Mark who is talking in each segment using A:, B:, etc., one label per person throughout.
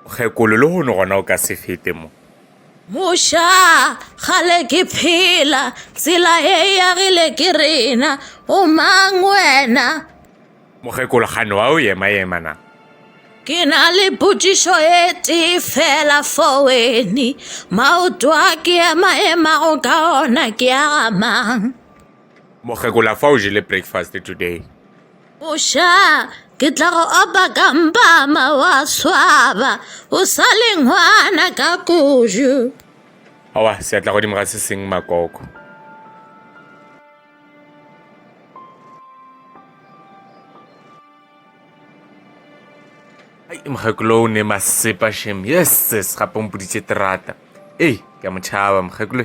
A: kgekolo le hono gona o ka se fete mo moša
B: gale ke phela tsela e yagile ke rena o mang wena mokgekolo
A: gane wa o yema yema na ke na
B: le potšišo e tee fela fo weni maoto a ke ema emago ka ona ke a gamang Mokgekula
A: fa o jele breakfast today? Mosha,
B: ke tla go opa ka mpama wa swaba. O sa le ngwana ka kuju. Awa,
A: seatla godimo ga se seng makoko. ai mokgekolo o ne masepa shem yeses gape o mpoditse terata ei ke a motšhaba mokgekolo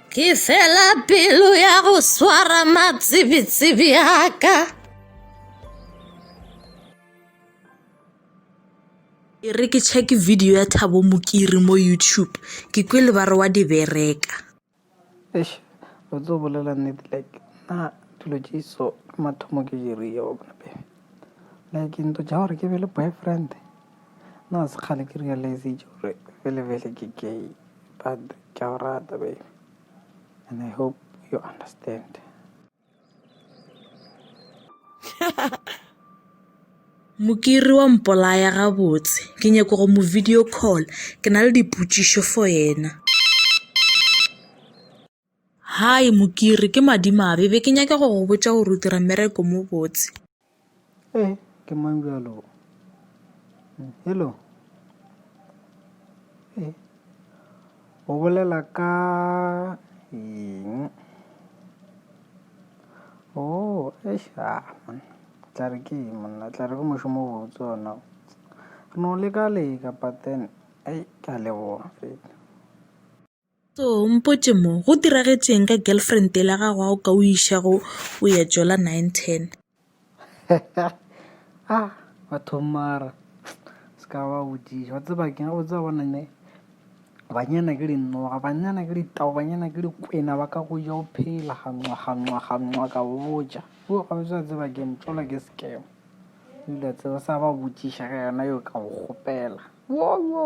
C: ke
B: fela pelo ya go swara matsebetsebe aka e re ke check video ya thabo mokiri mo youtube ke kwe le ba re wa di bereka eish
D: o tlo bolela nnete like na dilo tše so mathomo ke di rile wa bona pele like ntho tša gore ke be le boyfriend Nna se kgale ke realizitše gore bele bele ke gay but ke a go rata baby and I hope you understand.
B: Mokiri wa mpolaya gabotse ke nyako go mo video call ke na le dipotšišo for yena. Hi Mokiri, ke madimabe, be ke nyake go go botša gore o dira mmereko mo botse. Ee,
D: ke mang bjalo? Hello? Ee, o bolela ka eng? Oh, eish, ah, man. Tla re ke eng monna, tla re ke mošomo o botse ona. Re no leka leka but then, ei, ke a leboga fela. So
B: mpotše mo, go diragetšeng ka girlfriend yela gago a o ka o išago o ya jola nine ten?
D: a ah, batho mara se ka ba bodiša wa tseba ke ga botsa bona ne banyana ke dinoga banyana ke ditao banyana ke dikwena ba ka go ja o phela ganwa ganwa ganwa ka botja o ga o sa tseba ke ntšola ke sekema Dilo tse o sa ba botšiša ka yona yo ka go kgopela. Wo, wo.